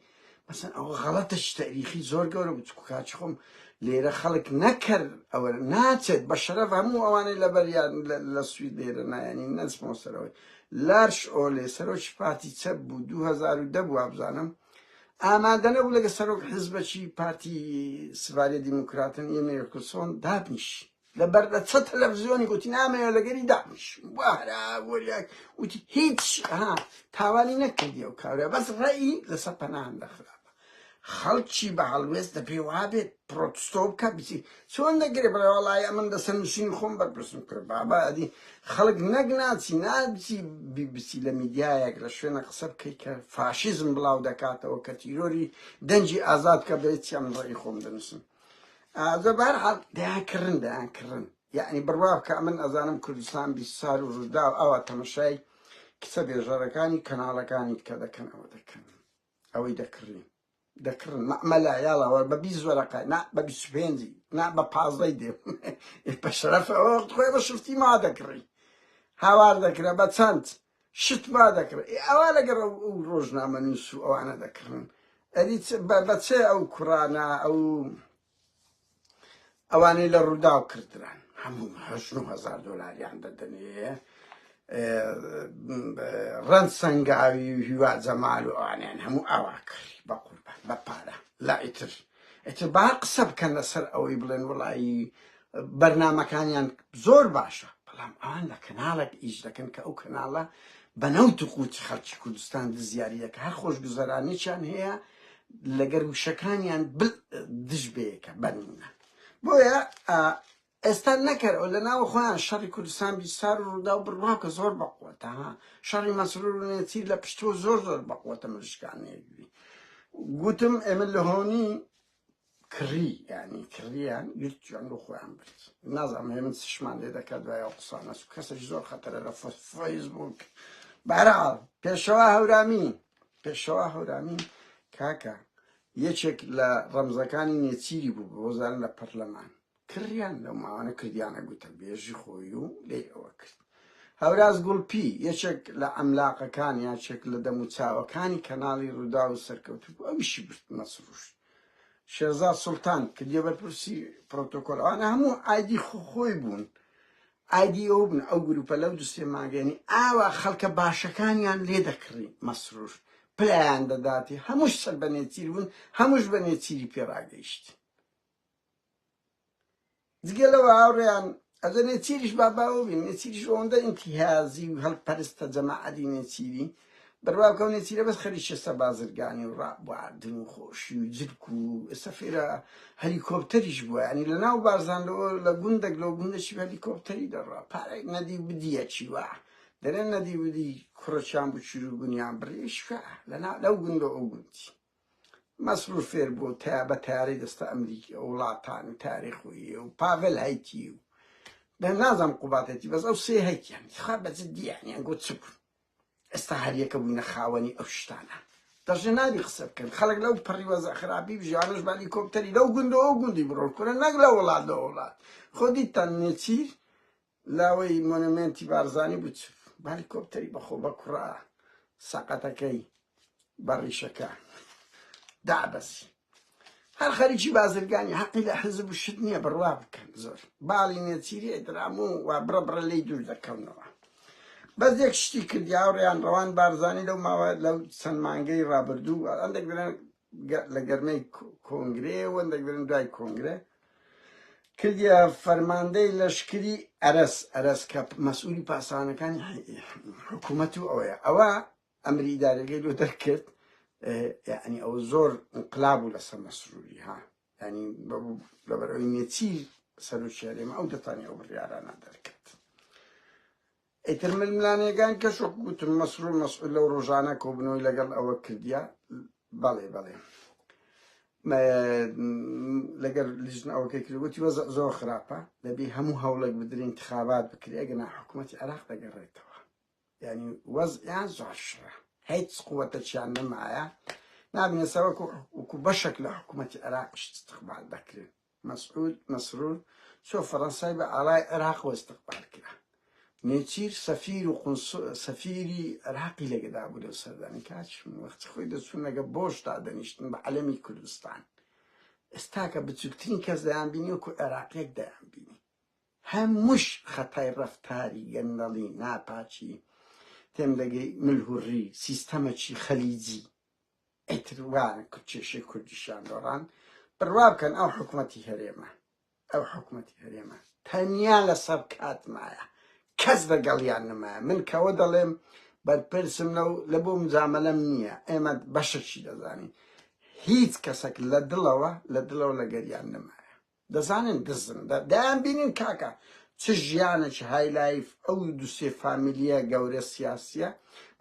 مەسەن ئەوە غەڵەتە چ تەئریخی زۆر گەورە بوو چکو کاچ خۆم لێرە خەڵک نەکەر ئەوە ناچێت بە شەرەف هەموو ئەوانەی لەبەر یان لە سوید لێرە نایانی نەچمەوە سەرەوەی لارش ئۆلێ سەرۆکی پارتی چەپ بوو 2010 بوو وابزانم ئامادە نەبوو لەگە سەرۆک حزبەکی پارتی سڤاریە دیموکراتن یە نێرکلسۆن دابنیشی لە بەردە چە تەلەفزیۆنی گوتی نامەوێ لەگەری دابیشم بارا وەریاک وتی هیچ ها تاوانی نەکردی و کارە بەس ڕێی لەسەر پەنان دەخرا خەڵکی بە هەڵوێست دە پێی وابێت پرۆتستۆ بکە بچی چۆن دەگرێ بەڵای ئەمن دەسە نووسین خۆم بەرپرسم کرد بابا ئەدی خەڵک نەک ناچی نابچی بیبسی لە میدیایەک لە شوێنە قسە بکەی کە فاشیزم بڵاو دەکاتەوە کە تیرۆری دەنجی ئازاد کە بێت چیان ڕێی خۆم دەنووسم ئازە بارحال دەیان کڕن دەیان کڕن یعنی بڕوا بکە من ئەزانم کوردستان بیسار و ڕوودا و ئاوا تەمەشای کچە بێژەرەکانی کەناڵەکانی کە دەکەن ئەوە دەکەن ئەوەی دەکڕین دەکڕن مەلا یاڵەوە بە بی زۆرەکە نا بە بیسپێنجی نا بە پازدەی دێ بە شەرەفەوە خۆی بە شفتی ما دەکڕی هاوار دەکرا بە چەند شت وا دەکڕێ ئێ ئەوا لەگەڕ ئەو ئەو ڕۆژنامەنووس و ئەوانە دەکڕن ئەدی بە بەچێ ئەو کوڕانە ئەو ئەوانەی لە ڕووداو کردران هەموو هەزار دۆلاریان دەدەنێ ڕەند سنگاوی و هیوا جەمال و ئەوانیان هەموو ئاوا کڕی بە قوربان بە پارە لا ئیتر ئیتر با قسە بکەن لەسەر ئەوەی بڵێن وەڵایی بەرنامەکانیان زۆر باشە بەڵام ئەوان لە کەناڵێک ئیش دەکەن کە ئەو کەناڵە بە نەوت و قوتی خەڵکی کوردستان دزیاری دەکە هەر خۆش گوزەرانێکیان هەیە لەگەر وشەکانیان دژ بەیەکە بەنمونە بۆیە ئێستا نەکەرەوە لە ناوە خۆیان شەڕی کوردستان بیسار و ڕوداو بڕوا کە زۆر بە قوەتە ها شەڕی مەسرور و نێچیر لە پشتوە زۆر زۆر بە قوەتە مریشکانێگری گوتم ئێمە لە هۆنی کڕی یعنی کڕیان گرت جوان بۆ خۆیان برد نازانم هێ من سشمان لێ دەکات دوای ئەو قسانە و کەسێک زۆر خەتەرە لە فەیسبوک بەرەڵ پێشەوە هەورامی پێشەوە هەورامی کاکە یەکێک لە ڕەمزەکانی نێچیری بوو بۆزان لە پەرلەمان کڕیان لەو ماوانە کردیانە گوتەبێژی خۆی و لێی ئەوە کرد. هەوراز گوڵپی، یەکێک لە عەملاقەکان، یاکێک لە دەموچاوەکانی کەناڵی رووداو و سەرکەوتوو بوو، ئەویشی برد مەسرووش. شێرزاد سوڵتان، کردیە بەرپرسی پرۆتۆکۆل، ئەوانە هەموو ئایدی خۆی بوون، ئایدی ئەو بوون، ئەو گرووپە لەو دوو سێ مانگە، یانی ئاوا خەڵکە باشەکانیان لێ دەکڕی، مەسرووش پلەیان دەداتی، هەمووش سەر بە نێچیر بوون، هەمووش بە نێچیری پێ راگەیشتین. جگە لەوە هاوڕێیان ئەدە نێچیریش با باوە بین نێچیریش ئەوەندە ئینتیهازی و هەڵپەرستە جەماعەدی نێچیری بڕواکەو نێچیرە بەس خەریکە سە بازرگانی و ڕابواردن و خۆشی و جرک و سەفێرە هەلیکۆپتەریش بووە ینی لە ناو بارزان لەوە لە گوندەک لەو گوندەشی هەلیکۆپتەری دەڕا پارێک نەدی بدیەکی وە دەرێن نەدی بدی کوڕەچیان بچور و گونیان بڕیشکە لەنا لەو گوندە ئەو گوندی مەسرور فێر بوو تەیا بە تەیارەی دەستە ئەمریکی و وڵاتان و تاریخ و یێ و پاڤێل هەیتی و بە نازانم قوباد هەیتی بەس ئەو سێ هەیتیان خوا بە جدی یانیان گۆ چ بوون ئێستا هەر یەکە بووینە خاوەنی ئەو شتانە دەژێ نابی قسە بکەن خەڵک لەو پەڕی وەزە خراپی بژیانش بالی کۆپتەری لەو گوندەوە گوندی بڕۆن کورە نەک لە وڵات لە وڵات خۆ دیتان نێچیر لاوەی مۆنۆمێنتی بارزانی بوو چ بالیکۆپتەری بەخۆ بە کوڕا سەقەتەکەی بە ڕیشەکە دابەسی هەر خەریکی بازرگانی حەقی لە حزب و شت نییە بڕوا بکەن زۆر باڵی نێچیری ئەدرام و وا بڕە بڕە لی دوور دەکەونەوە بەس یەک شتی کردیا و ڕیان ڕەوان بارزانی لەو ماوە لەو چەند مانگەی ڕابردوو ئەندێک درێن لە گەرمەی کۆنگرێ وەندەگرن دوای کۆنگرە کردە فەرماندەی لەشکری ئەرس ئەرس کە مەسئولی پاسانەکانی حکوومەت و ئەوەیە ئەوە ئەمری دارەکەی لۆ دەرکرد یعنی ئەو زۆر انقلاب و لەسەر مەسروری ها ینی لەبەرەوەی نێچیر سەرۆکیارێمە ئەو دەتانی ئەو بڕیارانە دەرکرد ئیتر ململانێگان کەش وەک گوتم مەسرور مەسعود لەو ڕۆژانە کۆبنەوەی لەگەڵ ئەوە کردیە بەڵێ بەڵێ لەگەر لیژن ئەوەکەی کرد وتی وەزە زۆر خراپە دەبی هەموو هەوڵێک بدرین انتخابات بکرێ گەنا حکوومەتی عراق دەگەڕێتەوە ینی وەزیان زۆر شرە هیچ قووەتە چیان نەمایە نابنێسەوەکو وکو بەشێک لە حکوومەتی عراقش استقبال دەکرێت مەسعود مەسرور چۆ فەرەنسای بە ئاڵای عێراقەوە ئیستقبال کرا. نێچیر سەفیر و قونسوڵ سەفیری عێراقی لەگەدا بوو لەو سەردانەی کە هاتشم وەختی خۆی دەچوون لەگە بۆش دادەنیشتن بە عەلەمی کوردستان ئێستاکە بچووکترین کەس دەیان بینی وەکو عێراقیەک دەیان بینی هەمووش خەتای ڕەفتاری گەندەڵی ناپاکی تێم دەگەی ملهوڕی سیستەمەکی خەلیجی ئیتر وایە کە کێشەی کوردیشیان دۆڕاند، بڕوا بکەن ئەو حکومەتی هەرێمە، ئەو حکومەتی هەرێمە تەنیا لەسەر کات مایە، کەس لەگەڵیان نەمایە، من کەوە دەڵێم بەرپرسم لەو لە بۆ مجامەلەم نییە، ئێمە بەشەکی دەزانین، هیچ کەسەک لە دڵەوە لە دڵەوە لەگەریان نەمایە. دەزانن دزن دە دایان بینن کاکە چ ژیانەکی های لایف ئەو دو سێ فامیلیە گەورە سیاسیە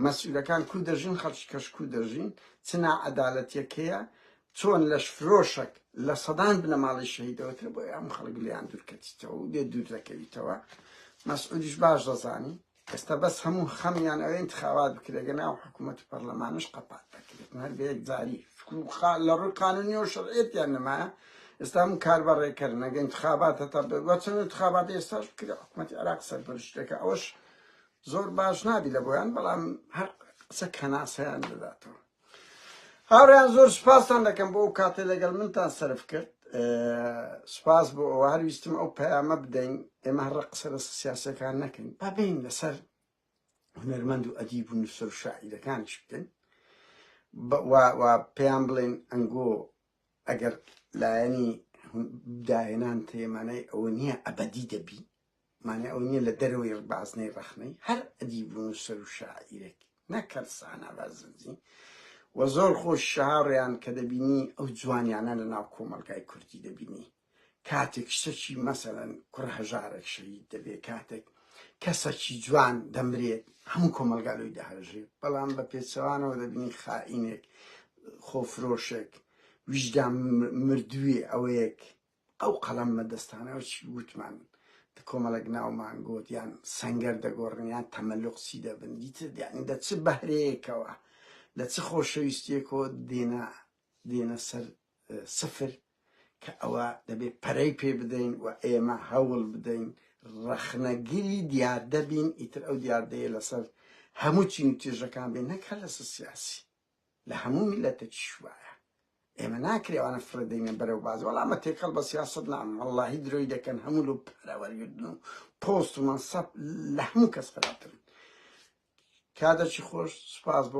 مەسولەکان کو دەژین خەڵکی کەش کو دەژین چ نا عەدالەتیەکەیە چۆن لەش فرۆشەک لە سەدان بنەماڵەی شەهیدەوەترە بۆیە ئەم خەڵک لیان دورکەتیتەوە و لێ دور دەکەویتەوە مەسعودیش باش دەزانی ئێستا بەس هەموو خەمیان ئەوەی انتخابات بکرێت گەنا ئەو حکوومەت و پەرلەمانش قەپات دەکرێت هەر بە یەکجاری لە ڕووی قانونی و شەرعێتیان نمایە ئێستا هەموو کار بە ڕێکەر نەگە انتخابات هەتا بەچەند انتخابات ئێستاش بکرێ حکوومەت عراق سەرپەرشتەکە ئەوەش زۆر باش نابی لە بۆیان بەڵام هەر قسە کەناسەیان دەداتەوە هاوڕێیان زۆر سوپاستان دەکەم بۆ ئەو کاتێ لەگەڵ منتان سرف کرد سوپاس بۆ ئەوە هەر ویستم ئەو پەیامە بدەین ئێمە هەڕە قسە لە سیاسەکان نەکەین با بین لەسەر هونەرمەند و ئەدیب و نووسەر و شاعیرەکانیش بکەین پێیان بڵێن ئەنگۆ ئەگەر لایەنی داهێنان تێمانای ئەوە نییە ئەبدی دەبی مانای ئەوە نییە لە دەرەوەی بازنەی ڕەخنەی هەر ئەدیب و نووسەر و شاعیرێک نەکەن سانا بازنجی و زۆر خۆش شاڕیان کە دەبینی ئەو جوانیانە لە ناو کۆمەلگای کوردی دەبینی کاتێک شتەکی مەسەرەن کوڕ هەژارێک شەید دەبێت کاتێک کەسەکی جوان دەمرێت هەموو کۆمەلگالۆی دەهژێت بەڵام بە پێچەوانەوە دەبینی خائینێک خۆفرۆشێک ویژدا مردووی ئەوەیەک ئەو قەڵەم مەدەستانە و چی ووتمان دە کۆمەڵێک ناومان گۆت یان سەنگەر دەگۆڕن یان تەمەلوق چی دەبن دیتر دیانی دە چ بەهرەیەکەوە لە چ خۆشەویستیەکۆ دێنە دێنە سەر سفر کە ئەوە دەبێت پەرەی پێ بدەین و ئێمە هەوڵ بدەین ڕەخنەگیری دیاردە بین ئیتر ئەو دیاردەیە لەسەر هەموو چین و تێژەکان بێ نەکە لەسەر سیاسی لە هەموو میلەتەکیش وایە ئێمە ناکرێ ئەوانە فڕێدەینە بەرەو باز وەڵامە تێکەڵ بە سیاسەت نام وەڵاهی درۆی دەکەن هەموو لەو پارە وەرگردن و پۆست و مەنسەب لە هەموو کەس خراپترن کادەچی خۆش سوپاس بۆ